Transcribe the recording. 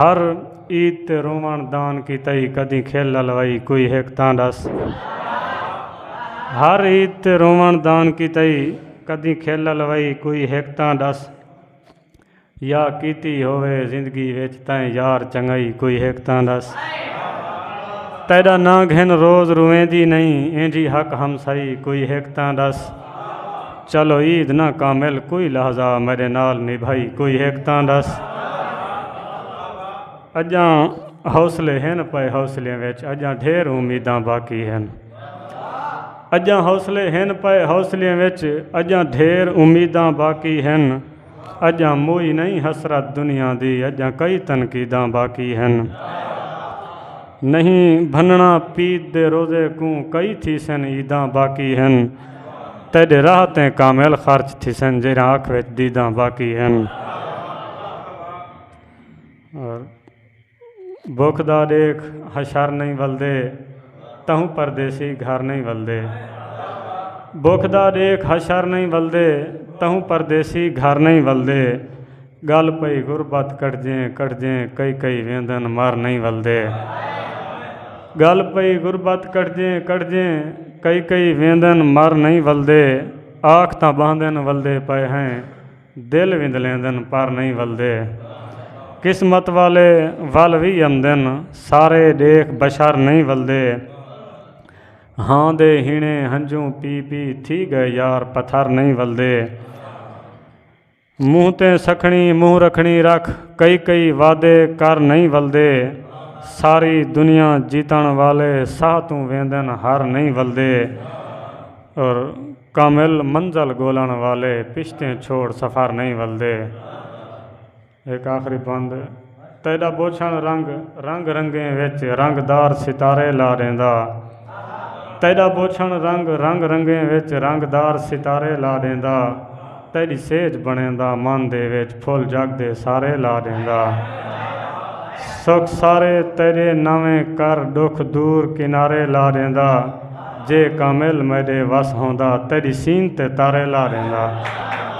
ہر عید تے رووݨ دان کیتائی کدیں کھل الوائی کوئی ہک تاں ڈس ہر عید تے رووݨ دان کیتائی کدیں کھل الوائی کوئی ہک تاں ڈس یا کیتی ہووے زندگی وچ تیں یار چنگائی کوئی ہک تاں ڈس تیڈا ناں گھن روز روویندی نہیں اینجھی حق ہمسائی کوئی ہک تاں ڈس چلو عید نہ کامل کوئی لحظہ میڈے نال نبھائی کوئی ہک تاں دس اجاں حوصلے ہن پئے حوصلے وچ اجاں ڈھیر امیداں باقی ہن اجاں حوصلے ہن پئے حوصلے وچ اجاں ڈھیر امیداں باقی ہن اڄاں موئی نئیں حسرت دنیا دی اڄاں کئی تنقیداں باقی ہن نئیں بھنڑاں پید دے روزے کوں کئی تھیسن عیداں باقی ہن تیڈے راہ تیں کامل خرچ تھیسن جیرھاں اکھ وچ دیداں باقی ہن۔ بکھ دا ڈیکھ حشر نئیں ولدے تہوں پردیسی گھر نئیں ولدے بکھ دا ڈیکھ حشر نئیں ولدے تہوں پردیسی گھر نئیں ولدے گل پئی غربت کٹجیں کٹجیں کئی کئی ویندن مر نئیں ولدے گل پئی غربت کٹجیں کٹجیں کئی کئی ویندن مر نئیں ولدے آکھ تاں باندن ولدے پئے ہیں دل وندلیندن پر نئیں ولدے قسمت والے ول وی امدن سارے ڈیکھ بشر نئیں ولدے ہاں دے ہینے ہنجوں پی پی تھی گئے یار پتھر نئیں ولدے منہ تے سکھنی منہ رکھنی رکھ کئی کئی وعدے کر نئیں ولدے ساری دنیا جیتن والے ساہ توں ویندن ہر نئیں ولدے اور کامل منزل گولن والے پشتیں چھوڑ سفر نئیں ولدے۔ ہک آخری بند تیڈا بوچھن رنگ رنگ رنگیں وچ رنگ دار ستارے لا ڈیندا تیڈا بوچھن رنگ رنگ رنگیں وچ رنگ دار ستارے لا ڈیندا۔ تیݙی سیج بݨیندا من دے وچ پھل جڳ دے سارے لا ݙیندا سکھ سارے تیݙے نویں کر ݙکھ دور کنارے لا ݙیندا جے کامل میݙے وس ہوندا تیݙی سین تے تارے لا ݙیندا۔